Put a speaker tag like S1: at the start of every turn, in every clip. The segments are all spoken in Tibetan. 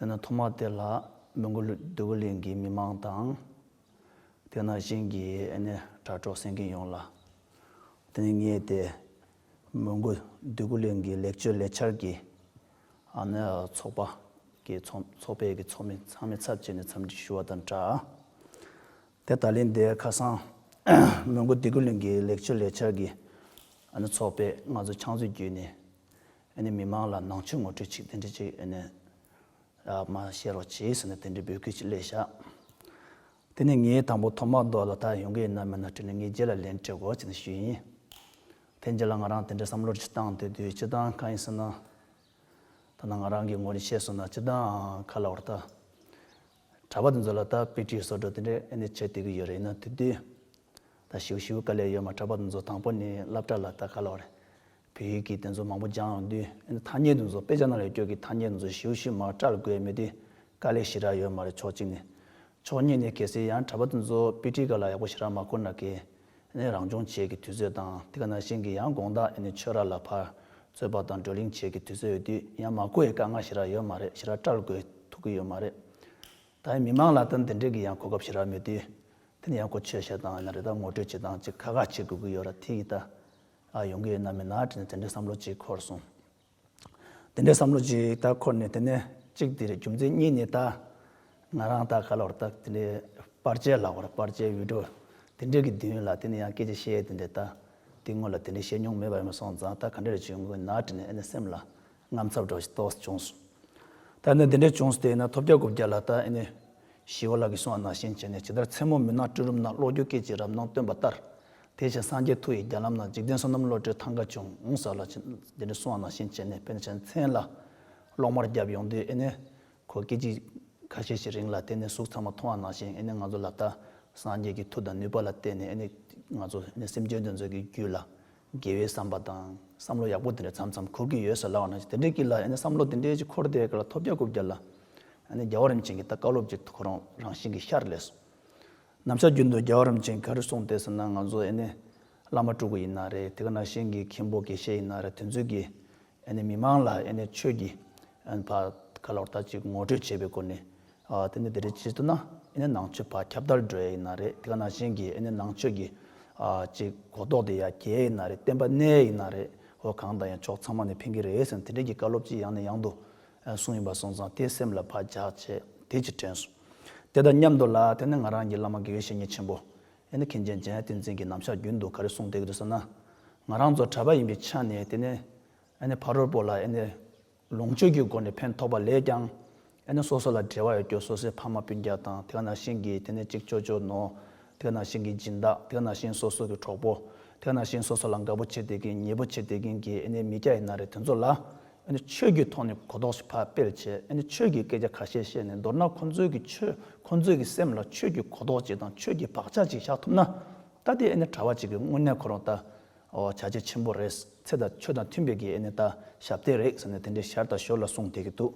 S1: དེ་ནས་ཐོག་མར་དེ་ལ་མོན་གྷོ་ལུའུ་ཝེ་ལིན་གྱི་མི་མང་དང། དེ་ན་བཞིན་གྱི་དྲ་གྲོགས་སེང་གེ་ཡོངས་ལ། དེ་ནས་ངས་དེ་མོན་གྷོ་ལུའུ་ཝེ་ལིན་གྱི་ལེགས་བཅོས་ལས་འཆར་གྱི་ཚོགས་པ་ཀྱི་ཚོགས་པའི་ཚོགས་མི་ཚང་མའི་ཚབ་བྱས་ནས་འཚམས་འདྲི་ཞུ་བ་དང་སྦྲགས། དེ་ད་ལན་དེ་ཁ་སང་མོན་གྷོ་ལུའུ་ཝེ་ལིན་གྱི་ལེགས་བཅོས་ལས་འཆར་གྱི་ཚོགས་པས་ང་ཚོ་ཆང་བཟོད་བརྒྱུད་ནས་མི་དམངས་ལ་ནང་ཆོས་ངོ་སྤྲོད་ཅིག་དེ་འདྲི་ཅིག་མ་བཤད་རོགས་གྱིས་ཟེར་ནས་དེ་འདྲི་འབོད་སྐུལ་ཅིག་སླེ་ཤག། དེ་ནས་ངའི་དང་པོ་ཐོག་མ་རྡོ་ལ་དར་ཡོང་གི་ཡིན་ན་མེད་ན་དྲིས་ནས་ངའི་རྗེས་ལ་ལན་སྤྲད་གོ་ཅིག་ནས་ཞུས་ཡིན། དེ་རྗེས་ལ་ང་རང་དེ་འདྲ་བསམ་བློར་ཅི་བཏང་དེ་དུས་སྤྱི་བཏང་གང་ཡིན་ཟེར་ན། ཐ་ན་ང་རང་གིས་ངོ་རེ་ཤེས་སོང་ན་སྤྱི་བཏང་ག་ལ་བར་ད། གྲྭ་པ་དེ་ཚོ་ལ་ད་དཔེ་ཁྲིད་བཟོ་སྒྲོག་དེ་འདྲ་བྱེད་བསྡད་ཀྱི་ཡོད་རེད་ན་དེ་དུས་ད་ཞིའུ་ཞིའུ་དཀའ་ལས་ཡོད་མ་གྲགས་པ་དེ་ཚོ་དང་པོ་ནི་བསླབ་གྲྭ་ལ་ལྟ་དཀའ་ལོ་རེད། བོད་ཡིག་གི་དེ་ཚོ་མང་པོ་སྦྱངས་འོང་དུས་ཨེ་འདི་ཐ་སྙད་དེ་ཚོ་དཔེ་ཆ་ནང་ལས་སྐྱོར་གྱི་ཐ་སྙད་དེ་ཚོ་ཞིའུ་ཞིའུ་མར་བཀྲལ་དགོས་མེད་དུས་དཀའ་ལས་ཞི་རགས་ཡོད་མ་རེད་ཕྱོགས་གཅིག་ནས། ཕྱོགས་གཉིས་ནས་གལ་སྲིད་ཡང་གྲྭ་པ་དེ་ཚོ་དཔེ་ཁྲིད་ག་ལ་ཡག་པོ་ཞི་རགས་མ་ཁུར་ན་གལ་ཨེ་རང་སྦྱོང་བྱེད་ཀྱི་དུས་ཚོད་དང་དེ་ག་ནང་བཞིན་གྱི་ཡང་དགོངས་དག་ཨེ་ནི་ཆོས་ར་ལ་ཕར་རྩོད་པ་དང་བགྲོ་གླེང་བྱེད་ཀྱི་དུས་ཚོད་ཡོད་དུས་ཡང་མ་ཁུར་ཨེ་དཀའ་ངལ་ཞི་རགས་ཡོད་མ་རེད་ཞི་རགས་བཀྲལ་དགོས་ཐུག་གི་ཡོད་མ་རེད། ད་ཡིན་མི་མང་ལ་ལྟ་འདི་འདྲས་ཀྱི་ཡང་གོ་སྐབས་ཞིག་རག་མེད་དུས། དེ་ནི་ཡང་གོ་ཆོད་བཤད་སྟངས་ཡིན་ན་རེ་ད་ངོ་སྤྲོད་བྱེད་སྟངས་ཅིག་ཁ་ཁ་བྱེད་དགོས་ཀྱི་ཡོད་ར་ཐིག་ཡིད་ལྟ་ཨ་ཡོང་གི་ཡོད་ན་མིན་ན་དྲིས་ན་དེ་འདྲའི་བསམ་བློ་ཅིག་འཁོར་སོང། དེ་འདྲའི་བསམ་བློ་ཅིག་ད་འཁོར་ནས་དེ་ནས་གཅིག་དེ་རེད་རྒྱུ་མཚན་གཉིས་ནི་ད། ང་རང་ད་ག་ལ་བར་ད་དེ་འདྲའི་པར་ཆས་ལག་བར་པར་ཆས་འུད་སྒྲོག་དེ་འདྲས་ཀྱི་མདུན་ལ་དེ་ནི་ཡང་སྐད་ཅིག་བཤད་དེ་འདྲས་ད་དེ་སྔོན་ལ་དེ་འདྲས་བཤད་མྱོང་མེད་པ་ཡིན་མ་སོང་ཙང་ད་ག་འདྲས་རེ་བྱུང་གི་ཡོད་ན་དྲིས་ན་ཨེ་ནས་སེམས་ལ་ངམ་ཚབ་དྲག་ཞིག་ཏོགས་སུ་བྱུང་སོང། ད་ནི་འདི་འདྲའི་བྱུང་སོང་དེ་ཡིན་ན་ཐོབ་བརྒྱ་དགུ་བརྒྱ་ལ་ལྟ་ཨེ་ནུས། ཞི་བ་ལགས་ཀྱིས་གསུང་བ་ནང་བཞིན་བྱས་ནས་ཇི་ལྟར་མཚན་མོ་མུན་ནག་སྤྲིན་རུམ་ན་གློག་འགྱུ་སྐད་ཅིག་རབ་སྣང་སྟོན་པ་ལྟར། དེ་བཞིན་སངས་རྒྱས་ཐུགས་ཡི་རྒྱ་ལམ་ན་འཇིག་རྟེན་བསོད་ནམས་བློ་གྲོས་ཐང་ག་ཆུང་ངུ་ཟག་ལ་ཕྱིན། འདི་འདྲའི་གསུང་བ་ནང་བཞིན་བྱས་ནས་ཕན་ཆད་མཚན་ལ་གློག་དམར་བརྒྱབ་ཡོང་དུས་ཨེ་ནུས། ཁོ་སྐད་ཅིག་ཁ་ཤས་ཤིག་རིང་ལ་དེ་ནས་གཟུགས་ཚང་མ་མཐོང་བ་ནང་བཞིན་ཨེ་ནུས་ང་ཚོ་ལ་ལྟ། སངས་རྒྱས་ཀྱི་མཐུ་དང་ནུས་པ་ལ་བརྟེན་ནས་ཨེ་ནུས། ང་ཚོ་ཨེ་ནུས་སེམས་ཅན་དེ་ཚོའི་རྒྱུད་ལ་དགེ་བའི་བསམ་པ་དང་བསམ་བློ་ཡག་པོ་དེ་འདྲ་མཚམས་མཚམས་འཁོར་གྱི་ཡོད་ས་ལའོ་ན་ཅིག་དེ་འདྲའི་གི་ལ་ཡང་ན་བསམ་བློ་དེ་འདྲའི་ཅིག་འཁོར་དེའི་གི་ལ་ཐོབ་རྒྱ་རྐུབ་རྒྱ་ལ་ཡང་ན་རྒྱལ་བ་རིན་ཆེན་གྱི་ད་བཀའ་སློབ་ཀྱི་ཐོ་རངས་རང་བཞིན་གྱི་ཤར་ལས་སོ། ནམ་ཕྱག་རྒྱུད་འདུལ་རྒྱལ་བ་རིན་ཆེན་ག་རེ་གསུངས་ཏེ་ཟེར་ན་ང་ཚོ་ཡང་ན་བླ་མ་སྤྲུལ་སྐུ་ཡིན་ན་རེད་དེ་ག་ན་གཞན་གྱི་མཁན་པོ་དགེ་བཤེས་ཡིན་ན་རེད་དེ་ཚོའི་གི་མི་དམངས་ལ་ཆོས་ཀྱི་བར་ག་ལ་བར་ཐག་ཅིག་ངོ་སྤྲོད་བྱེད་པའི་སྒོ་ནས། དེ་ནི་དེ་རེད་ཅེས་བསྟོད་ན་ནང་ཆོས་བར་ཁྱབ་བརྡལ་འགྲོ་ཡས་ཡིན་ན་རེད་དེ་ག་ནང་བཞིན་གྱིས་ནང་ཆོས་ཀྱི་ཅིག་གོ་རྟོགས་དེ་ཡ་གྱལ་ཡས་ན་རེད་བསྟན་པ་གནས་ཡས་ཡིན་ན་རེད་ཧོ་གང་དང་ཡང་ཕྱོགས་ཚང་མ་ནས་ཕན་གྱི་རེད་ཟེར་ནས་དེ་འདྲས་ཀྱི་བཀའ་སློབ་ཅིག་ཡང་ནས་ཡང་དུ་གསུངས་ཡིན་པ་སོང་ཙང་དེས་སེམས་ལ་བག་རྒྱག་བྱས་དེ་ཅིག་དྲན་སོང། དེ་དང་མཉམ་དུ་ལ་དེ་ནི་ང་རང་གྱི་བླ་མ་དགེ་བའི་བཤེས་གཉེན་ཆེན་པོ་ཨེ་ནི་མཁན་ཆེན་འཇའ་ཡང་ཏིང་འཛིན་གྱི་རྣམ་གཞག་རྒྱུན་དུ་ག་རེ་གསུངས་བསྡད་གི་འདུག་ཟེར་ན། ང་རང་ཚོ་གྲྭ་པ་ཡིན་པའི་ཆ་ནས་བལྟས་ནས། ཨེ་ནི་ཕ་རོལ་པོ་ལ་ཨེ་ནི་ལོངས་སྤྱོད་ཀྱི་སྒོ་ནས་ཕན་ཐོགས་པ་ལས་ཀྱང། ཨེ་ནི་སོ་སོ་ལ་འབྲེལ་བ་ཡོད་སྐྱོ་སོ་སོའི་ཕ་མ་སྤུན་རྒྱག་དང་དེ་ག་ནང་བཞིན་གྱི་དེ་ནི་གཅིག་ཅོ་ཅོ་ནོ། དེ་ག་ནང་བཞིན་གྱི་སྦྱིན་བདག་དེ་ག་ནང་བཞིན་སོ་སོ་གི་གྲོགས་པོ། དེ་ག་ནང་བཞིན་སོ་སོ་ལ་དགའ་པོ་བྱེད་བསྡད་ཀྱིན་མྱི་པོ་བྱེད་བསྡད་ཀྱིན་གྱི་ཨེ་ནི་མི་སྐྱ་ཡི་ན་རེ་དེ་ཚོ་ལ། ཆོས་ཀྱི་ཐོག་ནས་གོ་རྟོགས་ཤིག་ཕབ་སྤེལ་བྱས། ཆོས་ཀྱི་སྐད་ཆ་ཁ་ཤས་བཤད་ནས་མདོར་ན་ཁོང་ཚོའི་གི་ཆོས་ཁོང་ཚོའི་གི་སེམས་ལ་ཆོས་ཀྱི་གོ་རྟོགས་ཅིག་དང་ཆོས་ཀྱི་བག་ཆགས་ཅིག་བཞག་ཐུབ་ན། ད་ལྟའི་ཨེ་ནི་གྲྭ་བ་ཅིག་གི་དངོས་གནས་ཁོ་རང་ད་བྱ་བྱེད་ཆེན་པོ་རེད། ཚེ་དང་ཆོས་དང་མཐུན་པའི་གི་ཨེ་ནི་ད་ཞབས་འདེགས་རེད་ཟེར་ནས་དེ་འདྲའི་ཞར་དང་ཞོར་ལ་གསུངས་བསྡད་ཀྱི་འདུག་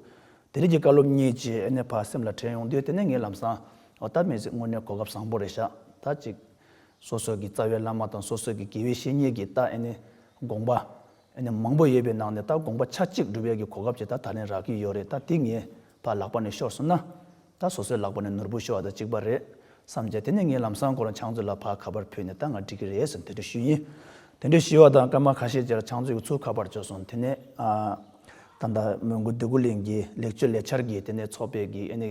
S1: དེ་རིགས་ཀྱི་བཀའ་སློབ་གཉིས་ཅིག་ཨེ་ནི་ཕར་སེམས་ལ་དྲན་ཡོང་དུས་དེ་ནས་ངས་ལམ་སང་འོ་ད་མེད་ཟིག་དངོས་གནས་གོ་སྐབས་བཟང་པོ་རེད་ཤག་ད་ཅིག། སོ་སོའི་གི་རྩ་བའི་བླ་མ་དང་སོ་སོའི་གི་དགེ་བའི་བཤེས་གཉེན་གྱི་ད་ཨེ་ནི་དགོངས་པ། མང་པོ་ཡོད་པའི་ནང་ནས་ད་དགོངས་པ་ཆ་གཅིག་འབྲུ་བལ་གྱི་གོ་སྐབས་ཅིག་ད་ད་ལན་རག་གི་ཡོད་རེད་ད་དེ་ངའི་བར་ལག་པ་ནས་ཤོར་སོང་ན། ད་སོ་སོའི་ལག་པ་ནས་ནོར་བུ་ཤོར་བ་དང་གཅིག་པ་རེད་བསམ་བྱས་དེ་ནས་ངས་ལམ་སང་སྐོར་ལ་ཆང་མཛོད་ལ་ཕར་ཁ་པར་ཕུལ་ནས་ད་ང་འགྲིག་གི་རེད་ཟེར་དེ་འདྲ་ཞུས་ཡིན། དེ་འདྲ་ཞུས་བ་དང་སྐར་མ་ཁ་ཤས་རྗེས་ལ་ཆང་མཛོད་ཀྱི་ཚུར་ཁ་པར་བྱོས་སོང་དེ་ནས། ད་ད་མོན་གྷོ་འདོད་རྒུ་གླིང་གི་ལེགས་བཅོས་ལས་འཆར་གྱི་དེ་ནས་ཚོགས་པའི་གི་ཨེ་ནི།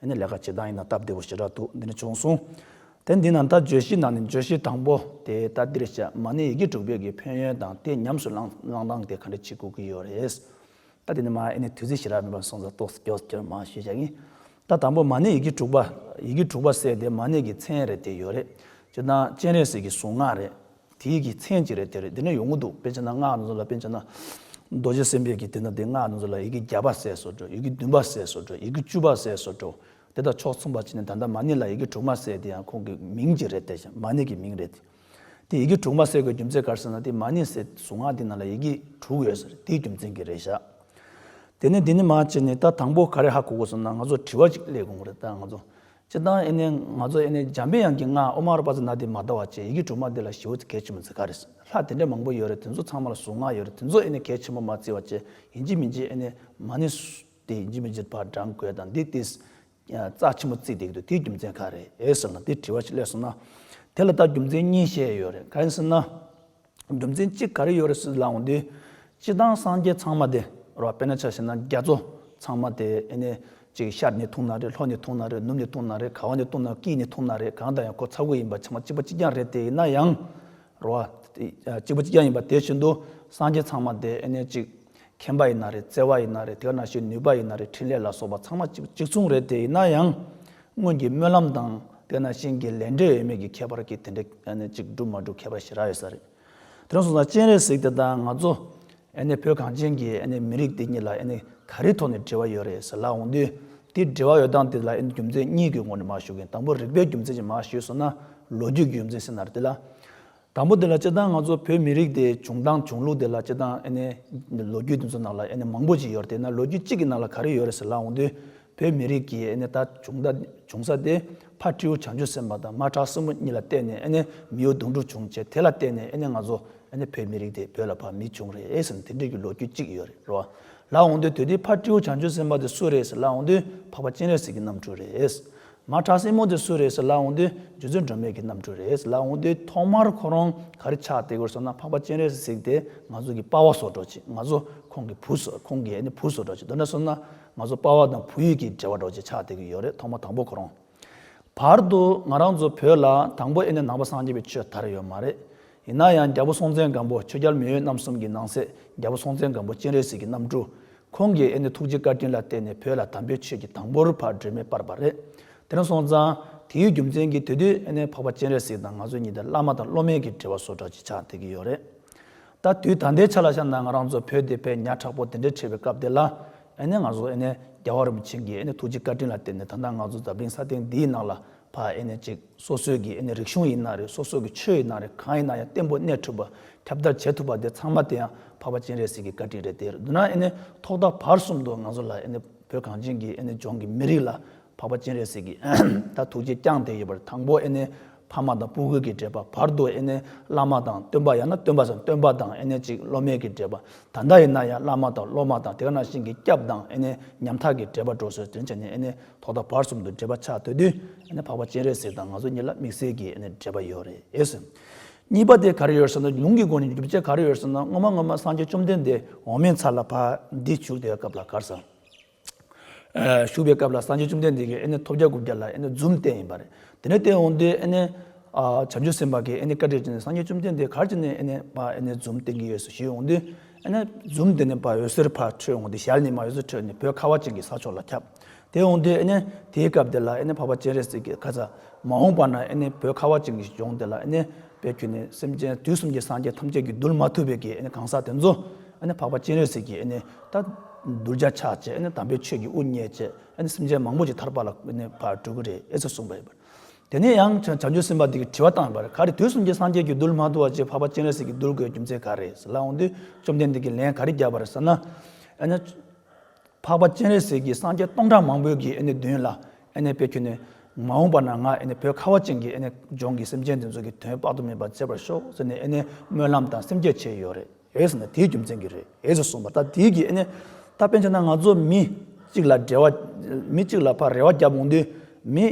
S1: འདི་ནི་ལས་ཀ་བྱེད་སྟངས་ཡིན་ན་སྟབས་བདེ་བོ་ཞེ་དྲག་འདུག་འདི་ནི་བྱུང་སོང། དེ་འདི་ནང་ལྟར་བརྗོད་གཞིའི་ནང་ནས་བརྗོད་གཞི་དང་པོ་དེ་ལྟར་འདིར་བཤད་མ་ནི་ཡི་གེ་དྲུག་བོད་ཀྱི་ཕན་ཡོན་དང་དེ་ཉམས་སུ་བླངས་སྟངས་དེ་ག་འདྲ་བྱེད་དགོས་ཀྱི་ཡོད་རེད། ད་དེ་ནི་མ་ཨེ་ནི་དུས་ཚོད་ཞེ་དྲག་མེད་པར་སོང་ཙང་རྟོག་སྐྱོ་སྐྱོ་མ་ཞུས་བྱ་གིན། ད་དང་པོ་མ་ནི་ཡི་གེ་དྲུག་པ། ཡི་གེ་དྲུག་པ་ཟེར་དེ་མ་ནི་གྱི་མཚན་རེད་དེ་ཡོད་རེད། སྤྱིར་བཏང་སྤྱན་རས་གཟིགས་ཀྱི་གཟུངས་སྔགས་རེད། དེའི་གི་མཚན་གྱི་རེ་དེ་རེ་འདི་ནས་ཡོང་གི་འདུག་དཔེ་ཆ་ན་སྔགས་ནི་ཚོ་ལ་དཔེ་ཆ་ན། རྡོ་རྗེ་སེམས་དཔས་ཀྱི་དེ་ན་དེ་སྔགས་ནི་ཚོ་ལ་ཡི་གེ་བརྒྱ་པ་ཟས་སོ་དྲོ་ཡི་གེ་བདུན་པ་ཟས་སོ་དྲོ་ཡི་གེ་བཅུ་པ་ཟས་སོ་དྲོ། དེ་དང་ཕྱོགས་མཚུངས་པར་བྱས་ནས་ད་ལྟ་མ་ཎི་ལ་ཡི་གེ་དྲུག་མ་ཟས་དེ་ཡང་ཁོང་གི་མིང་གྱི་རེ་དེ་ཞེས་མ་ཎི་གི་མིང་རེ་དེ། དེ་ཡི་གེ་དྲུག་མ་ཟས་དགོས་རྒྱུ་མཚན་གར་ཟེར་ན་དེ་མ་ཎི་ཟས་གཟུངས་སྔགས་དེ་ན་ལ་ཡི་གེ་དྲུག་ཡོད་ཟེར་དེའི་རྒྱུ་མཚན་གྱི་རེ་བཞག། དེ་ནས་དེ་ནས་མ་བྱས་ནས་ད་དང་པོ་ག་རེ་ཧ་གོ་དགོས་སམ་ན་ང་ཚོ་དྲི་བ་ཅིག་གླེགས་དགོངས་རེ་ད་ང་ཚོ་ཅི་སྟང་ཨེ་ནེ་ང་ཚོ་ཨེ་ནེ་འཇམ་དཔལ་དབྱངས་ཀྱི་སྔགས་ཨོ་མ་རཱ་པ་ཛི་ན་དེ་མ་བཟླ་བ་བཅས་ཡི་གེ་དྲུག་མ་དེ་ལ་ཞེའུ་ཙི་གལ་ཆེན་པོ་འཛི་ག་རེད་ལྷ་དེ་འདྲས་མང་པོ་ཡོད་རེད་དེ་ཚོ་ཚང་མ་ལ་གཟུངས་སྔགས་ཡོད་རེད་དེ་ཚོ་ཨེ་ནེ་གལ་ཆེན་པོ་མ་བརྩི་བ་བཅས་ཡིན་གྱི་མིན་གྱི་ཨེ་ནེ་མ་ནི་དེ་ཡིན་གྱི་མིན་གྱི་བར་བགྲང་དགོས་དང་འདི་དེ་རྩ་ཆེན་པོ་བརྩིས་བསྡད་ཀྱི་འདུག་དེའི་རྒྱུ་མཚན་ག་རེད་ཟེར་ན་དེ་དྲི་བ་ཞིག་སླེབས་སོང་ན་དེ་ལ་ད་རྒྱུ་མཚན་གཉིས་བཤད་ཡོད་རེད་ག་ཡིན་ཟེར་ན། སྒྲུབ་འཛིན་གཅིག་ག་རེ་ཡོད་རེད་སུས་ལ་འོང་དུས། སྤྱི་བཏང་སངས་རྒྱས་ཚང་མ་དེ་རོ་དཔེ་ན་ཆ་ཤེས་ན་རྒྱ་མཚོ་ཚང་མ་དེ་ཨེ་ནས་ཅིག་ཤར་ནས་འཐུང་ན་རེད་ལྷོ་ནས་འཐུང་ན་རེད་ནུབ་ནས་འཐུང་ན་རེད་ག་བ་ནས་བཏུང་ན་ཀི་ནས་འཐུང་ན་རེད་གང་ལྟར་ཡང་ཁོ་ཚ་གུ་ཡིན་པ་ཆ་མ་གཅིག་པ་གཅིག་རྐྱང་རེད་དེ་ཡིན་ན་ཡང་རོ། གཅིག་པ་གཅིག་རྐྱང་ཡིན་པ་དེ་བཞིན་དུ་སངས་རྒྱས་ཚང་མ་དེ་ཨེ་ནས་ཅིག་མཁྱེན་པ་ཡིན་ན་རེད་བརྩེ་བ་ཡིན་ན་རེད་དེ་ག་ན་ཞིག་ནུས་པ་ཡིན་ན་རེད་ཕྲིན་ལས་ལ་སོགས་པ་ཚང་མ་གཅིག་མཚུངས་རེད་དེ་ཡིན་ན་ཡང་སྔོན་གྱི་སྨོན་ལམ་དང་དེ་ན་ཤིང་གི་ལས་འབྲས་ཡོད་མེད་ཀྱི་ཁྱད་པར་གྱིས་དེ་འདྲའི་ཨ་ནེ་གཅིག་འགྲུབ་མ་འགྲུབ་ཁྱད་པར་ཞེ་རག་ཡོད་ས་རེད། དེ་རིང་སོང་ཙང་སྤྱན་རས་གཟིགས་དེ་དང་ང་ཚོ་ཨ་ནེ་བོད་གངས་ཅན་གྱི་ཨ་ནེ་མི་རིགས་དེ་གཉིས་ལ་ཨ་ནེ་ག་རེའི་ཐོག་ནས་འབྲེལ་བ་ཡོད་རེད་ཟེར་ལབ་འོང་དུས་དེ་འབྲེལ་བ་ཡོད་སྟངས་དེ་ལ་ཨ་ནེ་རྒྱུ་མཚན་གཉིས་ཀྱི་ངོ་ནས་མ་ཞུ་གིན་དང་པོ་རིག་པའི་རྒྱུ་མཚན་གྱིས་མ་ཞུས་སོང་ན་ལོ་རྒྱུས་ཀྱི་རྒྱུ་མཚན་ཟེར་ན་རེད་དེ་ལ། དང་པོ་དེ་ལ་སྤྱིར་བཏང་ང་ཚོ་བོད་མི་རིགས་དེ་བྱུང་སྟངས་བྱུང་ལུགས་དེ་ལ་སྤྱིར་བཏང་ཨེ་ནས་ལོ་རྒྱུས་དེ་ཚོ་ནང་ལ་ཨེ་ནས་མང་པོ་ཅིག་ཡོད་དེ་ན་ལོ་རྒྱུས་གཅིག་གི་ནང་ལ་ག་རེ་ཡོད་རེད་ཟེར་ལ་འོང་དུས་བོད་མི་རིགས་ཀྱི་ཨེ་ནས་ད་བྱུང་ད་བྱུང་ས་དེ་ཕ་ཁྲིའུ་བྱང་ཆུབ་སེམས་པ་དང་མ་བྲག་སྲིན་མོ་གཉིས་ལ་བལྟས་ནས་ཨེ་ནས་མི་ཡུལ་གདུང་དྲུག་བྱུང་བྱས་དེ་ལ་བལྟས་ནས་ཨེ་ནས་ང་ཚོ་ཨེ་ནས་བོད་མི་རིགས་དེ་བོད་ལ་ཕ་མི་བྱུང་རེད་ཟེར་ན་དེ་འདྲིའི་གི་ལོ་རྒྱུས་གཅིག་ཡོད་རེད་རོ། ལ་འོང་དུས་དེ་དུས་ཕ་ཁྲིའུ་བྱང་ཆུབ་སེམས་པ་དེ་སུ་རེད་ཟེར་ལ་འོང་དུས་འཕགས་པ་སྤྱན་རས་གཟིགས་ཀྱི་རྣམ་སྤྲུལ་རེད། མ་བྲག་སྲིན་མོ་དེ་སུ་རེད་ཟེར་ལ་འོང་དུས་རྗེ་བཙུན་སྒྲོལ་མས་གི་རྣམ་སྤྲུལ་རེད་ཟེར་ལ་འོང་དུས་ཐོག་མར་ཁོ་རང་ག་རེ་ཆགས་བསྡད་གོ་སོང་ན་འཕགས་པ་སྤྱན་རས་སུ་གཟིགས་ཏེ་ང་ཚོ་གི་དཔའ་བ་བཟོ་འགྲོ་ཅིག་ང་ཚོ་ཁོང་གི་བུ་བཟོ་ཁོང་གི་བུ་བཟོ་འགྲོ་ཅིག་དོན་དྲ་སོང་ན་ང་ཚོ་དཔའ་བ་དང་བུ་ཡུག་གི་འབྲེལ་བ་འགྲོ་ཅིག་ཆགས་བསྡད་གི་ཡོད་རེད་ཐོག་མ་དང་པོ་ཁོ་རང་བར་དུ་ང་རང་ཚོ་བོད་ལ་དང་པོ་ཨེ་ནས་ནང་པ་སངས་རྒྱས་པའི་ཆོས་དར་ཡོད་མ་རེད་ཡིན་ན་ཡང་རྒྱ་བོ་སྲོང་བཙན་སྒམ་པོ་ཆོས་རྒྱལ་མི་ཡུལ་རྣམ་གསུམ་གི་ནང་སྲས་རྒྱ་བོ་སྲོང་བཙན་སྒམ་པོ་སྤྱན་རས་གཟིགས་གི་རྣམ་སྤྲུལ་ཁོང་གིས་ཨེ་ནི་ཐུགས་རྗེ་བཀའ་དྲིན་ལ་བརྟེན་ནས་བོད་ལ་དམ་པའི་ཆོས་ཀྱི་དང་པོར་ཕར་འགྲོས་མེད་སྤར་བ་རེད། དེ་རིང་སོང་ཙང། དེའི་རྒྱུ་མཚན་གྱིས་དེ་དུས་ཨེ་ནི་འཕགས་པ་སྤྱན་རས་གཟིགས་དང་ང་ཚོ་གཉིས་དེར་བླ་མ་དང་སློབ་མའི་གི་འབྲེལ་བ་བཟོ་གྲ་ཅིག་ཆགས་བསྡད་ཀྱི་ཡོད་རེད། ད་དུས་ད་ལྟའི་ཆ་ལ་བཤད་ན་ང་རང་ཚོ་བོད་དེ་བས་ཉག་ཕྲག་པོ་དེ་འདྲའི་ཁྲེལ་བའི་སྐབས་དེ་ལ། ཨེ་ནི་ང་ཚོ་ཨེ་ནི་རྒྱལ་བ་རིན་པོ་ཆེ་འགས་ཨེ་ནི་ཐུགས་རྗེ་བཀའ་དྲིན་ལ་བརྟེན་ནས་ད་ལྟ་ང་ཚོ་རྫ་སྤྲིན་ས་སྟེང་འདིའི་ནང་ལ་བ་ཨེ་ནས་ཅིག་སོ་སོས་ཀྱི་ཨེ་ནས་རིག་གཞུང་ཡིན་ན་རེད་སོ་སོ་ཀྱི་ཆོས་ཡིན་ན་རེད་གང་ཡིན་ན་ཡང་བརྟན་པོ་གནས་ཐུབ་པ་ཁྱབ་བརྡལ་བྱེད་ཐུབ་པ་དེ་ཚང་མ་དེ་ཡང་འཕགས་པ་སྤྱན་རས་གཟིགས་ཀྱི་བཀའ་དྲིན་རེད་དེར་བསྡུ་ན་ཨེ་ནས་ཐོག་མཐའ་བར་གསུམ་དུ་ང་ཚོ་ལ་ཨེ་ནས་བོད་གངས་ཅན་གྱི་ཨེ་ནས་ལྗོངས་ཀྱི་མི་རིགས་ལ་འཕགས་པ་སྤྱན་རས་གཟིགས་ཀྱི་ད་ཐུགས་རྗེ་བསྐྱངས་དེ་ཡོད་པར་དང་པོ་ཨེ་ནས་ཕ་མ་དང་སྤུ་གུད་ཀྱི་འབྲེལ་པ་བར་དུ་ཨེ་ནས་བླ་མ་དང་སྟོན་པ་ཡང་ན་སྟོན་པ་དང་སྟོན་པ་དང་ཨེ་ནས་ཅིག་སློབ་མའི་ཀྱི་འབྲེལ་པ་ད་ལྟ་ཡིན་ན་ཡང་བླ་མ་དང་སློབ་མ་དང་དེ་ག་ནང་བཞིན་གྱི་སྐྱབས་དང་ཨེ་ནས་ཉམ་ཐག་གྱི་འབྲེལ་པ་འགྲོ་སོས་དོན་བྱས་ནས་ཨེ་ནས། ཐོག་མཐའ་བར་གསུམ་དུ་འབྲེལ་པ་ཆགས་འདོད་དུས་འཕགས་པ་སྤྱན་རས་གཟིགས་དང་ང་ཚོ་གཉིས་ལ་དམིགས་བསལ་གྱི་འབྲེལ་པ་ཡོད་རེད། གཉིས་པ་དེ་ག་རེ་ཡོད་ཟེར་ན་ལུང་གི་སྒོ་ནས་སྒྲུབ་བྱེད་ག་རེ་ཡོད་ཟེར་ན་སྔོན་མ་སྔོན་མ་སངས་རྒྱས་བཅོམ་ལྡན་འདས་འོག་མིན་ཚར་ལ་བར་འདི་བཞུགས་བདེ་བའི་སྐབས་ལ་གར་སོང། བཞུགས་པའི་སྐབས་ལ་སངས་རྒྱས་བཅོམ་ལྡན་འདས་ཀྱིས་ཐོབ་བརྒྱ་དགུ་བརྒྱ་ལ་འཛུམ་བསྟན་ཡིན་པ་རེད། དེ་ནས་བསྟན་འོང་དུས་བྱང་ཆུབ་སེམས་དཔའ་གིས་བཀའ་དྲིས་ཏེ་སངས་རྒྱས་བཅོམ་ལྡན་འདས་གར་ཅིག་ནས་འཛུམ་བསྟན་གྱི་ཡོད་ཞུས་འོང་དུས། འཛུམ་བསྟན་ནས་བར་འོད་ཟེར་ཕར་འཕྲོས་འོང་དུས་ཞལ་ནས་མ་འོད་ཟེར་འཕྲོས་ནས་བོད་ཁ་བ་ཅན་གྱི་ས་ཕྱོགས་ལ་ཁྱབ། དེ་འོངས་དུས་ཨེ་ནས་དེའི་སྐབས་དེ་ལ་ཨེ་ནས་བྷ་བ་སྤྱན་རས་གཟིགས་ཀྱི་ཁ་ཚ། མ་འོངས་པ་ན་ཨེ་ནས་བོད་ཁ་བ་ཅིག་ཞིག་འབྱུང་དེ་ལ་ཨེ་ནས་བོད་ཁྱོད་ནི་སེམས་ཅན་དུས་གསུམ་གྱི་སངས་རྒྱས་ཐམས་ཅད་ཀྱིས་གདུལ་མ་ཐུབ་པའི་གི་ཨེ་ནས་གང་ཟག་དེ་ཚོ་ཨེ་ནས་བྷ་བ་སྤྱན་རས་གཟིགས་ཀྱིས་ཨེ་ནས་ད་གདུལ་བྱ་ཆགས་བཅས་ཨེ་ནས་དམ་པའི་ཆོས་ཀྱི་དབུ་བརྙེས་བཅས་ཨེ་ནས་སེམས་ཅན་མང་པོ་ཅིག་ཐར་པ་ལ་ཨེ་ནས་བར་གྲོལ་གྱི་རེད་ཨེ་ཙི་གསུངས་པ་ཡིན་པར། དེ་ནས་ཡང་བྱང་ཆུབ་སེམས་དཔའ་དེ་གིས་དྲི་བ་བཏང་བར་ག་རེ་དུས་གསུམ་གྱི་སངས་རྒྱས་ཀྱིས་གདུལ་མ་ཐུབ་བ་ཅིག་བྷ་བ་སྤྱན་རས་གཟིགས་ཀྱིས་གདུལ་དགོས་རྒྱུ་མཚན་ག་རེ་ཟེར་ལ་འོངས་དུས་བཅོམ་ལྡན་འདས་ཀྱིས་ལན་ག་རེ་བརྒྱབ་པར་ཟེར་ན། ཨེ་ནས། འཕགས་པ་སྤྱན་རས་གཟིགས་ཀྱིས་སངས་རྒྱས་སྟོང་ཕྲག་མང་པོའི་གིས་ཨེ་ནི་བདུན་ལ་ཨེ་ནི་དཔེ་ཁྱོད་ནི། མ་འོངས་པ་ན་ང་ཨེ་ནི་བོད་ཁ་བ་ཅན་གྱི་ཨེ་ནི་ལྗོངས་ཀྱི་སེམས་ཅན་འདི་ཚོ་གི་དོན་དཔག་ཏུ་མེད་པ་མཛད་པར་ཤོག་ཟེར་ནས་ཨེ་ནི་སྨོན་ལམ་དང་སེམས་བསྐྱེད་བྱས་ཡོད་རེད་ཨེ་ཟེར་ན་དེའི་རྒྱུ་མཚན་གྱིས་རེད་ཨེ་ཟེར་གསུངས་པ་ད་དེའི་གིས་ཨེ་ནི། ད་དཔེ་མཚོན་ན་ང་ཚོ་མི་གཅིག་ལ་འབྲེལ་བ། མི་གཅིག་ལ་ཕར་རེ་བ་བརྒྱབ་འོང་དུས། མི།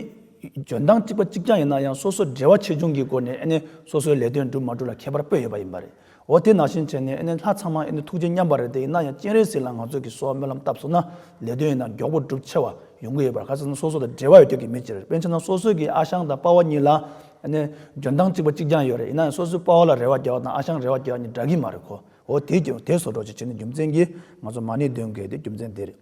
S1: འཇོན་ཐང་གཅིག་པ་གཅིག་རྐྱང་ཡིན་ན་ཡང་སོ་སོ་འབྲེལ་བ་ཆེ་ཆུང་གི་སྒོ་ནས་ཨེ་ནི་སོ་སོའི་ལས་དོན་འགྲུབ་མ་འགྲུབ་ལ་ཁྱད་པར་པོ་ཡོད་པ་ཡིན་པ་རེད། འོ་དེ་ནང་བཞིན་བྱས་ནས་ཨེ་ནས་ལྷ་ཚང་མ་ཨེ་ནས་ཐུགས་རྗེ་མཉམ་པ་རེད་དེ་ཡིན་ན་ཡང་སྤྱན་རས་གཟིགས་ལ་ང་ཚོ་གིས་སོགས་སྨོན་ལམ་བཏབ་སོང་ན་ལས་དོན་ཡིན་ན་མགྱོགས་པོ་འགྲུབ་ཆེ་བ་ཡོང་གི་ཡོད་པར་ག་ཚོད་ན་སོ་སོ་དང་འབྲེལ་བ་ཡོད་ཁྱོད་ཀྱིས་མི་ཅེར་པན་ཆེ་ན་སོ་སོ་གིས་ཨ་ཞང་དང་དཔའ་བོ་གཉིས་ལ་ཨེ་ནས་འཇོན་ཐང་གཅིག་པ་གཅིག་རྐྱང་ཡོད་རེད་ཡིན་ན་ཡང་སོ་སོས་དཔའ་བོ་ལ་རེ་བ་རྒྱག་བ་དང་ཨ་ཞང་རེ་བ་རྒྱག་བ་གཉིས་འདྲ་གི་མ་རེད་གོ་འོ་དེ་ཀྱི་དེ་སོ་སྒྲོག་ཅིག་བྱས་ནས་རྒྱུ་མཚན་གྱིས་ང་ཚོ་མ་ནི་འདོན་དགོས་དེ་རྒྱུ་མཚན་དེ་རེད།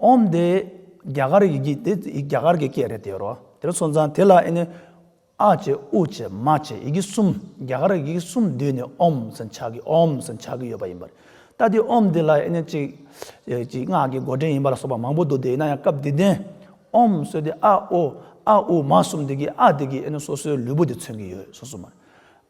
S1: ཨོམ་དེ་རྒྱ་གར་ཡི་གེ་དེ་རྒྱ་གར་གྱི་སྐད་རེད་དེ་རོ། དེ་རུ་སོང་ཙང་དེ་ལ་ཨེ་ནི། ཨ་བྱེད་ཨུ་བྱེད་མ་བྱེད་ཡི་གེ་གསུམ་རྒྱ་གར་ཡི་གེ་གསུམ་བསྡུས་ནས་ཨོམ་ཟེར་ཆགས་ཀྱི་ཨོམ་ཟེར་ཆགས་ཀྱི་ཡོད་པ་ཡིན་པ་རེད། ད་དེ་ཨོམ་དེ་ལ་ཨེ་ནི་གཅིག། གཅིག་སྔགས་ཀྱི་མགོ་འདྲེན་ཡིན་པ་ལ་སོགས་པ་མང་པོ་འདུག་དེ་ཡིན་ན་ཡང་སྐབས་དེ་དོན། ཨོམ་གསོལ་དེ་ཨ་ཨོ་ཨ་ཨུ་མ་གསུམ་དེ་གིས་ཨ་དེ་གིས་ཨེ་ནི་སོ་སོའི་ལུས་པོ་དེ་མཚོན་གྱི་ཡོད་སོ་སོ་མ་རེད།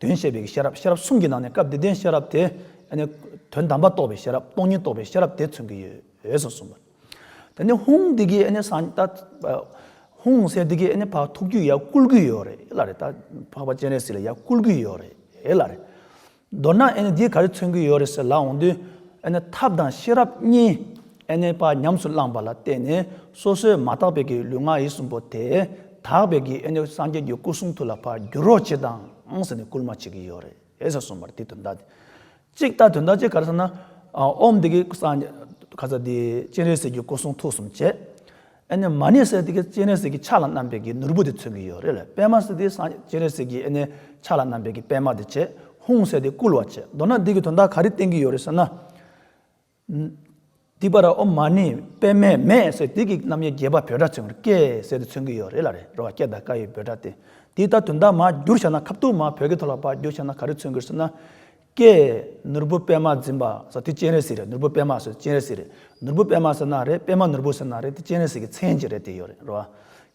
S1: དོན་བཤད་པའི་ཤེས་རབ་ཤེས་རབ་གསུམ་གྱི་ནང་ནས་སྐབས་དེ་དོན་ཤེས་རབ་དེ། དོན་དམ་པ་རྟོགས་པའི་ཤེས་རབ་སྟོང་ཉིད་རྟོགས་པའི་ཤེས་རབ་དེ་མཚོན་གྱི་ཡོད་ཟེར་གསུངས་པ། དེ་ནས་ཧུང་འདི་གའི་ཨ་ས་ད་ཧུང་སེ་འདི་གའི་ཨ་བག་ཐུག་རྒྱུ་ཡ་བསྐུལ་གྱི་ཡོད་རེད་ལ་རེད་ད་འཕགས་པ་སྤྱན་རས་གཟིགས་ལ་ཡ་བསྐུལ་གྱི་ཡོད་རེད་ལ་རེད། མདོར་ན་འདིས་ག་རེ་མཚོན་གྱི་ཡོད་རེད་ཟེར་ལ་འོང་དུས། ཐབས་དང་ཤེས་རབ་གཉིས། ཨེ་གནས་པ་ཉམས་སུ་བླངས་པ་ལ་བརྟེན་ནས་སོ་སོའི་མ་དག་པའི་གི་ལུས་ངག་ཡིད་གསུམ་པོ་དེ་དག་པའི་གི་ཨེ་ནས་སངས་རྒྱས་ཀྱི་སྐུ་གསུང་ཐུགས་ལ་བར་འགྱུར་རོ་ཅི་དང་ཟེར་ནས་བསྐུལ་མ་བྱེད་ཀྱི་ཡོད་རེད་ཟེར་སོང་བར་དེའི་དོན་དག་ཅིག་ལྟ་དོན་དག་ཅིག་ག་རེ་ཟེར་ན། ཨོམ་འདི་གི་སངས་རྒྱས་ག་ས་དེ་སྤྱན་རས་གཟིགས་ཀྱི་སྐུ་གསུང་ཐུགས་གསུམ་བྱས། ཨེ་ནས་མ་ནི་སེ་དེ་གི་སྤྱན་རས་གཟིགས་ཀྱི་ཕྱག་ལ་བསྣམས་པའི་གི་ནོར་བུ་དེ་མཚོན་གྱི་ཡོད་རེད་ལ་པད་མ་སེ་དེ་སངས་རྒྱས་སྤྱན་རས་གཟིགས་ཀྱི་ཨེ་ནས་ཕྱག་ལ་བསྣམས་པའི་གི་པད་མ་དེ་བྱས་ཧཱུྃ་སེ་དེ་བསྐུལ་བ་བྱས་མདོར་ན་འདི་གི་དོན་དག་ག་རེ་བསྟན་གྱི་ཡོད་རེད་ཟེར་ན། འདི་པར་ཨོ་མ་ནི་པད་མའི་མེས་ཟེར་དེ་གིས་རྣམ་དབྱེ་རྒྱས་པ་བོད་སྒྲ་ཚིག་མར་ཀས་ཟེར་དུ་མཚོན་གྱི་ཡོད་རེད་ལ་རེད་རོ་བ་སྐད་དང་ཀ་ཡི་བོད་སྒྲ་སྟེ་འདི་ལྟར་དོན་དག་མ་བསྒྱུར་བྱས་ན་ཁ་བཏུགས་མ་བོད་ཀྱི་ཐོག་ལ་པར་བསྒྱུར་བྱས་ན་ག་རེ་མཚོན་གྱིར་ཟེར་ན། ཀས། ནོར་བུ་པད་མ་འཛིན་པ་ཟེར་དེ་སྤྱན་རས་གཟིགས་རེད་ནོར་བུ་པད་མ་ཟེར་སྤྱན་རས་གཟིགས་རེད་ནོར་བུ་པད་མ་ཟེར་ན་རེད་པད་མ་ནོར་བུ་ཟེར་ན་རེད་དེ་སྤྱན་རས་གཟིགས་ཀྱི་མཚན་གྱི་རེད་དེ་ཡོད་རེད་རོ་བ།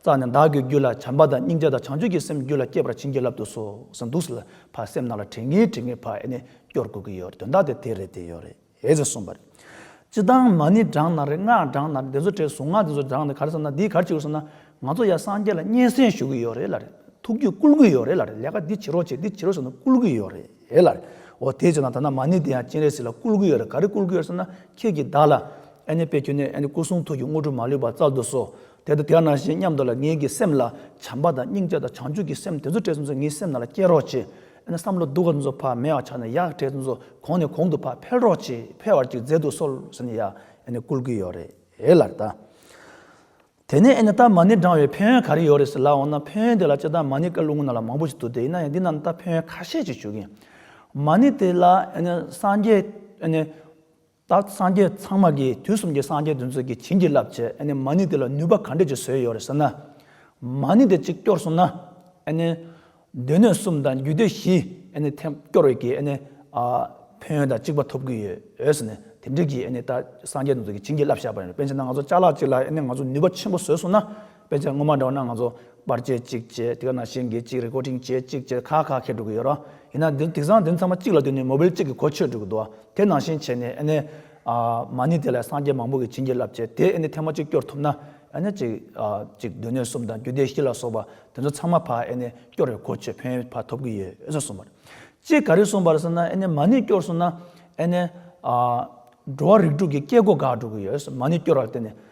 S1: རྩ་ནས་བདག་གི་རྒྱུད་ལ་བྱམས་པ་དང་སྙིང་རྗེ་དང་བྱང་ཆུབ་ཀྱི་སེམས་རྒྱུད་ལ་བསྐྱེད་པར་བྱིན་གྱིས་བརླབ་ཏུ་གསོལ་འདུག་ལ་ཕར་སེམས་ནང་ལ་དྲན་གྱིན་དྲན་གྱིན་ཕར་ཨེ་ནས་སྐྱོར་དགོས་ཀྱི་ཡོད་རེད་དོན་དག་དེ་དེ་རེད་དེ་ཡོད་རེད་ཨེ་ཟེར་གསུངས་པ་རེད། སྤྱི་བཏང་མ་ནི་བགྲང་ན་རེད་སྔགས་བགྲང་ན་རེད་འདི་ཚོ་བྲེལ་གཟུང་སྔགས་འདི་ཚོ་བགྲང་ནས་ག་རེ་བསམ་ན་འདིས་ག་རེ་བྱེད་དགོས་བསམ་ན་ང་ཚོ་ཡང་སངས་རྒྱས་ལ་སྙན་གསེང་ཞུ་གི་ཡོད་རེད་ལ་རེད་ཐུགས་རྒྱུད་བསྐུལ་གྱི་ཡོད་རེད་ལ་རེད་ལས་ཀ་འདི་བྱེད་རོགས་བྱེད་འདི་བྱེད་རོགས་ཟེར་ན་བསྐུལ་གྱི་ཡོད་རེད་ལ་རེད་འོ་དེས་བྱས་ན་ད་ནངས་མ་ནི་དེ་ཡང་སྤྱན་རས་གཟིགས་ལ་བསྐུལ་གྱི་ཡོད་རེད་ག་རེ་བསྐུལ་གྱི་ཡོད་རེད་བསམ་ན་ཁྱེད་ཀྱིས་བདག་ལ་ཨེ་ནས་དཔེ་ཁྱོད་ནས་ཨེ་ནས་སྐུ་གསུང་ཐུགས་ཀྱི་དངོས་གྲུབ་མ་ལུས་པ་བསྩལ་དུ་གསོལ་དེ་ལྟ་དེ་ན་ཞེས་སྙམ་དུ་ལ་ངེད་ཀྱི་སེམས་ལ་བྱམས་པ་དང་སྙིང་རྗེ་དང་བྱང་ཆུབ་ཀྱི་སེམས་དེ་ཚོ་བྲལ་ཚུན་ཚོ་ངའི་སེམས་ནང་ལ་སྐྱེ་རོགས་ཅེས་ཨེ་ན་བསམ་བློ་སྡུག་ག་ཚུན་ཚོ་ཕར་མེད་བར་ཆགས་ནས་ཡག་བྲལ་ཚུན་ཚོ་གོང་ནས་གོང་དུ་ཕར་འཕེལ་རོགས་ཅེས་འཕེལ་བར་གྱི་མཛད་འདུག་སོལ་ཟེར་ནས་ཡ་ཨེ་ན་བསྐུལ་གྱི་ཡོད་རེད་ཨེ་ལར་ད། དེ་ནས་ཨེ་ན་རྟ་མ་ནི་འབྲང་བའི་ཕན་ཡོན་ག་རེ་ཡོད་རེད་ཟེར་ལ་འོ་ན་ཕན་ཡོན་དེ་ལ་ཅེས་རྟ་མ་ནི་ཀ་ལུ་ངུ་ན་ལ་མང་པོ་ཞིག་འདུག་སྟེ་ཡིན་ན་ཡང་འདི་རྣམས་ད་ཕན་ཡོན་ཁ་ཤས་ཅིག་ཞུ་གིན། མ་ནི་དེ་ལ་ཨེ་ན་སངས་རྒྱས་ཨེ་ན། བདག་སངས་རྒྱས་ཚང་མ་གིས་དུས་གསུམ་གྱི་སངས་རྒྱས་དུས་མཛོད་ཀྱི་བྱིན་གྱིས་བརླབས་བྱས་ནས་མ་ཎི་དེ་ལ་ནུས་པ་ག་འདྲས་ཀྱི་བཟོས་ཡོད་རེད་ཟེར་ན། མ་ཎི་དེ་གཅིག་སྐྱོར་སོང་ན། སྡོད་གནས་གསུམ་དང་རྒྱུད་སྡེ་བཞི་སྐྱོར་བས་ཀྱིས་ཕན་ཡོན་དང་གཅིག་པ་ཐོབ་ཀྱི་ཡོད་ཟེར་ནས་དེ་འབྲེལ་གྱིས་བདག་སངས་རྒྱས་དུས་མཛོད་ཀྱི་བྱིན་གྱིས་བརླབས་བྱས་པ་རེད། དཔེ་ཆ་ན་ང་ཚོ་ལྕགས་ལག་གཅིག་ལ་ང་ཚོ་ནུས་པ་ཆེན་པོ་བཟོས་སོང་ན། དཔེ་ཆ་སྔོན་མ་འདྲ་བ་རྣམས་ང་ཚོ་པར་བཅད་ཅིག་བཅད་དེ་ག་ནང་བཞིན་འགེལ་ཅིག་རེ་ཀོ་ཏིང་བྱེད་ཅིག་བཅས་ཁག་ཁག་ཁེ་དྲུག་གི་ཡོད་རོགས་ཡིན་ན་འདི་དིག་སང་འདི་ཚང་མ་གཅིག་ལ་བསྡུས་ནས་མོ་བིལ་གཅིག་གི་གོ་ཆོད་དྲུག་གི་འདུག་ཨ་དེ་ནང་བཞིན་བྱས་ནས་ཨེ་ནས་མ་ནི་དེ་ལ་སངས་རྒྱས་མང་པོ་གི་བྱིན་གྱིས་རླབས་བྱས་དེ་ཨེ་ནས་ཐེངས་མ་གཅིག་སྐྱོར་ཐུབ་ན་ཨེ་ནས་གཅིག་གཅིག་བསྡུས་ནས་གསུམ་དང་རྒྱུད་སྡེ་བཞི་ལ་སོགས་པ་དེ་ཚོ་ཚང་མ་ཕ་ཨེ་ནས་སྐྱོར་བའི་གོ་ཆོད་ཕན་ཕ་ཐོབ་གི་ཡོད་ཨེ་ཟོ་གསུངས་པར། ཅེས་ག་རེ་གསུངས་པར་ཟེར་ན་ཨེ་ནས་མ་ནི་སྐྱོར་གསུངས་ན་ཨེ་ནས། འགྲོ་བ་རིགས་དྲུག་གི་སྐྱེ་སྒོ་འགག་དྲུག་གི་ཡོད་མ་ནི་སྐྱོར་བར་བརྟེན་ནས་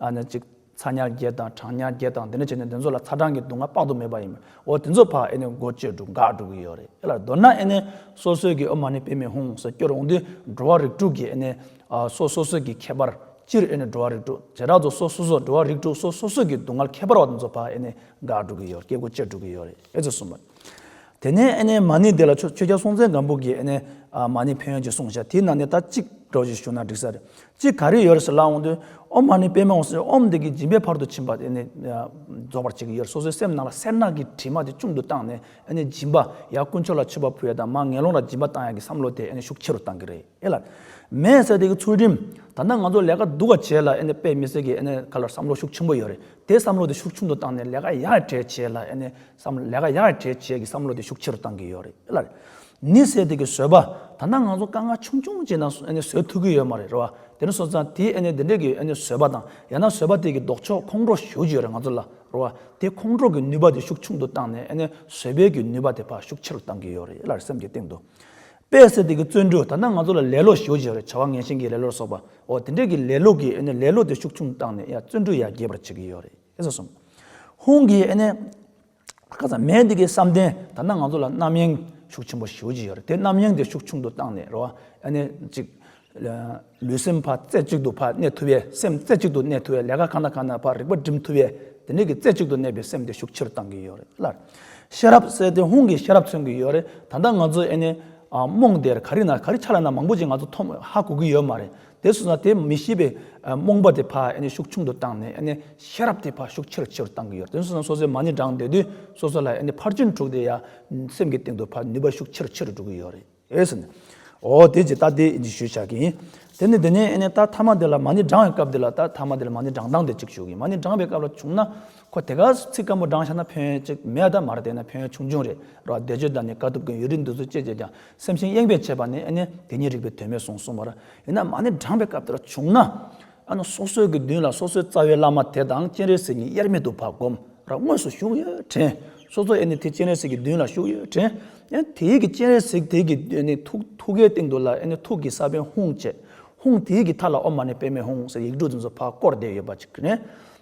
S1: ཨ་ནི་གཅིག། ཚ་ཉར་བརྒྱད་དང་གྲང་ཉར་བརྒྱད་དང་དེ་འདྲ་བྱས་ནས་འདི་ཚོ་ལ་ཚ་གྲང་གི་སྡུག་བསྔལ་དཔག་ཏུ་མེད་པ་ཡིན་མོད་འོ་དེ་ཚོ་ཕ་ཨེ་ནི་མགོ་བཅོས་འདུག་འགག་འགྲོ་གི་ཡོད་རེད་ཨེ་ལ་མདོར་ན་ཨེ་ནི་སོ་སོའི་གི་ཨོ་མ་ནི་བེད་མི་ཧུང་ཟེར་སྐྱོར་འོང་དུས་འགྲོ་བ་རིགས་དྲུག་གི་ཨེ་ནི་སོ་སོ་སོའི་གི་ཁྱད་པར་སྤྱིར་ཨེ་ནི་འགྲོ་བ་རིགས་དྲུག་བྱེ་བྲག་ཏུ་སོ་སོ་སོར་འགྲོ་བ་རིགས་དྲུག་སོ་སོ་སོའི་གི་སྡུག་བསྔལ་ཁྱད་པར་བ་དེ་ཚོ་ཕ་ཨེ་ནི་འགག་འགྲོ་གི་ཡོད་རེད་སྐྱེ་དགུ་བཅོས་འགྲོ་གི་ཡོད་རེད་ཨེ་ཙི་གསུངས་པ། དེ་ནས་ཨ་ནེ་མ་ནི་དེ་ལ་ཆོས་རྒྱལ་སྲོང་བཙན་སྒམ་པོ་གིས་ཨ་ནེ་མ་ནི་ཕན་ཡོན་གྱི་གསུང་བྱ་དེའི་ནང་ནས་ད་གཅིག་གྲོགས་ཀྱིས་ཞུ་ན་འགྲིག་ས་རེད་ཅིག་ག་རེ་ཡོད་རེད་ཟེར་ལ་འོང་དུས་ཨོ་མ་ནི་པད་མའི་འོང་ཟེར་ཨོམ་བདེ་གི་སྦྱིན་པའི་བར་དུ་ཕྱིན་པ་ཨ་ནེ་རྫོགས་པར་བྱེད་ཀྱི་ཡོད་རེད་སོ་སོའི་སེམས་ནང་ལ་སེར་ནག་གི་དྲི་མ་དེ་ཅུང་དུ་བཏང་ནས་ཨ་ནེ་སྦྱིན་པ་ཡ་དཀོན་མཆོག་ལ་མཆོད་པ་ཕུལ་ཡ་དང་མ་ངན་སློང་ལ་སྦྱིན་པ་བཏང་ཡ་གི་བསམ་བློ་དེ་ཨ་ནེ་ཤུགས་ཆེ་རུ་བཏང་གི་རེད་ཨེ་ལགས། མེད་ཟེར་དེ་གི་ཚུལ་ཁྲིམས་ད་ལྟ་ང་ཚོ་ལས་ཀ་སྡུག་བ་བྱས་ལ་ཨ་ནེ་དཔེ་མི་སྲིད་གི་ཨ་ནེ་ག་ལ་བསམ་བློ་ཤུགས་ཆེན་པོ་ཡོད་རེད་དེ་བསམ་བློ་དེ་ཤུགས་ཆུང་དུ་བཏང་ནས་ལས་ཀ་ཡག་གྲས་བྱས་ལ་ཨ་ནེ་བསམ་བློ་ལས་ཀ་ཡར་རྒྱས་བཅས་ཀྱི་བསམ་བློ་དེ་ཤུགས་ཆེ་རུ་གཏང་གི་ཡོད་རེད་ལ། ནི་ཟས་དེ་གི་བཟོས་པ་ད་ནང་ང་ཚོ་དཀའ་ངལ་ཆུང་ཆུང་བྱས་ན་བཟོས་ཐུབ་ཀྱི་ཡོད་མ་རེད་རོ། དེ་ནི་སོ་ཙང་དེ་འདི་འདྲས་ཀྱི་བཟོས་པ་དང་ཡང་ན་བཟོས་པ་དེ་གི་ལྡོག་ཕྱོགས་ཁོང་ཁྲོ་ཞུ་གི་ཡོད་རེད་ང་ཚོ་ལ་རོ། དེ་ཁོང་ཁྲོ་གི་ནུས་པ་དེ་ཤུགས་ཆུང་དུ་བཏང་ནས་བཟོས་པའི་གི་ནུས་པ་དེ་ཕ་ཤུགས་ཆེ་རུ་གཏང་གི་ཡོད་རེད་ལ་སེམས་ཀྱི་སྟེང་དུ། དཔེ་ཟས་དེ་གི་བརྩོན་འགྲུས་ད་ནང་ང་ཚོ་ལ་ལེ་ལོ་ཞུ་གི་ཡོད་རེད་བྱ་བ་ངན་ཞིང་གི་ལེ་ལོར་སོགས་པའོ་དེ་འདྲས་ཀྱི་ལེ་ལོ་གི་ལེ་ལོ་དེ་ཤུགས་ཆུང་བཏང་ནས་ཡ་བརྩོན་འགྲུས་ཡར་རྒྱས་པར་བྱེད་ཀྱི་ཡོད་རེད། ཨེ་ཟོ་གསུངས། ཧུང་གིས་ཨེ་ནས། ཁ་ཚ་མེད་འདི་གའི་བསམ་གཏན་ད་ནང་ང་ཚོ་ལ་རྣམ་གཡེང་ཤུགས་ཆེན་པོ་ཞུ་བགྱི་ཡོད་རེད་དེ་རྣམ་གཡེང་དེ་ཤུགས་ཆུང་དུ་བཏང་ནས་རོ་ཨེ་ནས་ཅིག། ལུས་སེམས་ཕ་རྩེ་གཅིག་ཏུ་ཕ་གནས་ཐུབ་བས་སེམས་རྩེ་གཅིག་ཏུ་གནས་ཐུབ་བས་ལས་ཀ་གང་དང་གང་ན་བར་རིག་པ་སྒྲིམ་ཐུབ་བས་དེ་ནས་ཀྱི་རྩེ་གཅིག་ཏུ་གནས་པའི་སེམས་དེ་ཤུགས་ཆེ་རུ་བཏང་གི་ཡོད་རེད་ལར། ཤེས་རབ་གསལ་ཏེ་ཧུང་གིས་ཤེས་རབ་མཚོན་གྱི་ཡོད་རེད་ད་ལྟ་ང་ཚོ་ཨེ་ནས། རྨོངས་དེར་ག་རི་ན་ག་རི་ཆ་ལ་ན་མང་པོ་ཅིག་ང་ཚོ་ཐོམ་ཧ་གོ་གི་ཡོད་མ་རེད་དེ་སོང་ན་དེ་མི་ཤེས་པའི་རྨོངས་པ་དེ་ཕ་ཤུགས་ཆུང་དུ་བཏང་ནས་ཤེས་རབ་དེ་ཕ་ཤུགས་ཆེ་རུ་ཆེ་རུ་བཏང་གི་ཡོད་རེད་དེ་སོང་ན་སོ་སོའི་མ་ནི་འགྲངས་སྡོད་དུས་སོ་སོ་ལ་ཕར་ཕྱིན་དྲུག་དེ་ཡང་སེམས་ཀྱི་སྟེང་དུ་ཕར་ནུས་པ་ཤུགས་ཆེ་རུ་ཆེ་རུ་འགྲོ་གི་ཡོད་རེད་ཟེར་ནས། འོ་དེ་ཇི་ལྟ་དེ་ཞུས་བྱ་གི་ཡིན། དེ་ནས་དེ་ནས་ཨ་ནེ་ད་ཐ་མ་དེ་ལ་མ་ནི་འགྲངས་བའི་སྐབས་དེ་ལ་ད་ཐ་མ་དེ་ལ་མ་ནི་འགྲངས་སྟངས་དེ་གཅིག་ཞུ་གི་མ་ནི་འགྲངས་པའི་སྐབས་ལ་བྱུང་ན་ཁོ་དེ་ག་ཚིག་སྐམ་པོ་འགྲངས་ཤ་ན་ཕན་ཡོན་གཅིག་མེད་ད་མར་བལྟས་ན་ཕན་ཡོན་ཆུང་ཆུང་རེད་རོ་བཟླས་བརྗོད་དང་ནི་དཀའ་ཐུབ་ཀྱི་ཡུལ་རིགས་འདུག་ཚུལ་བཅས་བྱས་ཀྱང་སེམས་ཤིང་གཡེངས་པས་བྱས་པ་ནི་ཨ་ནི་དེ་ཉིད་རིགས་པའི་དོན་མེད་གསུངས་གསུངས་པར། ཡིན་ན་མ་ནི་བགྲངས་པའི་སྐབས་དེར་བྱུང་ན། ཨ་ནི་སོ་སོའི་དགེ་འདུན་ལ་སོ་སོའི་རྩ་བའི་བླ་མ་དེ་དང་སྤྱན་རས་གཟིགས་ཉིད་དབྱེར་མེད་དུ་བག་བསྒོམ་ར་དངོས་སུ་བཞུགས་ཡོད་དྲན། སོ་སོ་ཨེ་ནི་དེ་སྤྱན་རས་གཟིགས་ཀྱི་མདུན་ལ་བཞུགས་ཡོད་དྲན། ཡང་དེའི་གི་སྤྱན་རས་གཟིགས་དེའི་གི་ཨེ་ནི་ཐུགས་ཐུགས་ཀའི་སྟེང་དུ་ལ་ཨེ་ནི་ཐུགས་ཀྱི་ས་བོན་ཧཱུྃ་བཅས་ཧཱུྃ་དེའི་གི་མཐའ་ལ་ཨོ་མ་ནི་པདྨའི་ཧཱུྃ་ཟེར་ཡིག་འབྲུ་འཛིན་སོ་ཕག་བསྐོར་བསྡེབས་ཡོད་པ་ཅིག་དྲན།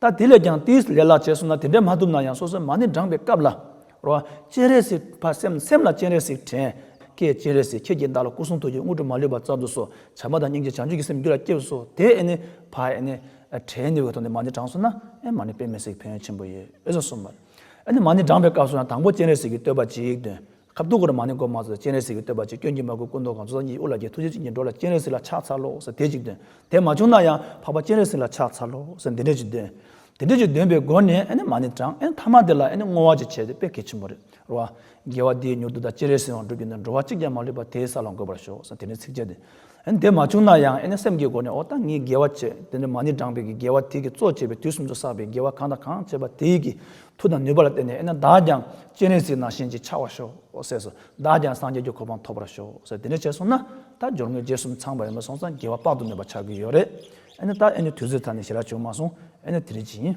S1: ད་དེ་ལས་ཀྱང་ཏིས་ལེ་ལག་བྱས་སོང་ན་དེ་འདྲས་མ་ཐུབ་ན་ཡང་སོ་སོའི་མ་ནི་འགྲངས་པའི་སྐབས་ལ། རོ། སྤྱན་རས་གཟིགས་ཕ་སེམས་སེམས་ལ་སྤྱན་རས་གཟིགས་དྲན། ཀྱེ་སྤྱན་རས་གཟིགས་ཁྱེད་ཀྱིས་བདག་ལ་སྐུ་གསུང་ཐུགས་ཀྱི་དངོས་གྲུབ་མ་ལུས་པ་བསྩལ་དུ་གསོལ། བྱམས་པ་དང་སྙིང་རྗེ་བྱང་ཆུབ་ཀྱི་སེམས་རྒྱུད་ལ་སྐྱེས་སོ། དེ་ཨེ་ནི། ཕ་ཨེ་ནི། དྲན་ནི་འོད་ཐོག་ནས་མ་ནི་དྲངས་སོང་ན། ཨེ་མ་ནི་དཔེ་མི་སྲིད་ཕན་ཡོན་ཆེན་པོ་ཡོད། ཨེ་ཟོ་གསུངས་པ། ཨེ་ནི་མ་ནི་འགྲངས་པའི་སྐབས་སུ་ཡང་དང་པོ་སྤྱན་རས་གཟིགས་ཀྱི་བསྟོད་པ་ཅིག་འདོན། ཁ་བརྡུང་གོ་རེ་མ་ནི་གོ་མ་ཟེར་སྤྱན་རས་གཟིགས་ཀྱི་བསྟོད་པ་ཅིག་སྐྱོན་གྱིས་མ་གོས་སྐུ་མདོག་གང་ཚོད་ཟ་ཉིའི་དབུ་ལ་རྒྱལ་ཐུགས་རྗེ་ཅན་གྱིས་འགྲོ་ལ་སྤྱན་རས་གཟིགས་ལ་ཕྱག་འཚལ་ལོ་ཟེར་དེ་ཅིག་འདོན་དེ་མ་བྱུང་ན་ཡང་འཕགས་པ་སྤྱན་རས་གཟིགས་ལ་ཕྱག་འཚལ་ལོ་ཟེར་འདི་འདྲ་ཅིག་འདོན། དེ་འདྲ་ཅིག་འདོན་པའི་སྒོ་ནས་ཨེ་ནི་མ་ནི་གྲངས་ཨེ་ནི་ཐ་མ་དེ་ལ་ཨེ་ནི་བསྔོ་བ་ཅིག་བྱས་ཏེ་དཔེ་གལ་ཆེན་པོ་རེད་རོ། རྒྱལ་བ་དེའི་མྱུར་དུ་ད་སྤྱན་རས་གཟིགས་དབང་སྒྲུབ་ཀྱི་ནི་འགྲོ་བ་གཅིག་ཀྱང་མ་ལུས་པ་དེའི་ས་ལ་འགོད་པར་ཤོག་ཟེར་དེ་ནས་ཚིགས་བཅད་དེ། དེ་མ་བྱུང་ན་ཡང་ཨེ་ནས་སེམས་ཀྱི་སྒོ་ནས་འོ་ད་ངས་དགེ་བ་བྱས་དེ་འདྲ་མ་ནི་བགྲངས་པས་ཀྱི་དགེ་བ་དེས་ཀྱི་གཙོ་བྱས་པའི་དུས་གསུམ་དུ་བསགས་པའི་དགེ་བ་གང་དང་གང་བྱས་པ་དེས་ཀྱི་མཐུ་དང་ནུས་པ་ལ་བརྟེན་ནས་ཨེ་ན་བདག་ཀྱང་སྤྱན་རས་གཟིགས་ན་བཞིན་གྱི་ཆགས་བར་ཤོག་ཟས་སོ། བདག་ཀྱང་སངས་རྒྱས་ཀྱི་གོ་འཕང་ཐོབ་པར་ཤོག་ཟས་དེ་འདྲ་བྱས་སོང་ན་ད་སྦྱོར་དངོས་རྗེས་གསུམ་ཚང་བས་མི་སོང་ཙང་དགེ་བ་དཔག་ཏུ་མེད་པ་ཆགས་ཀྱི་ཡོད་རེད། ཨེ་ན་ད་ཨེ་ནས་དུས་ཚོད་ཐར་ནས་ཞེ་རག་བྱུང་མ་སོང་ཨེ་ན་དེ་རིགས་ཀྱི་ཡིན།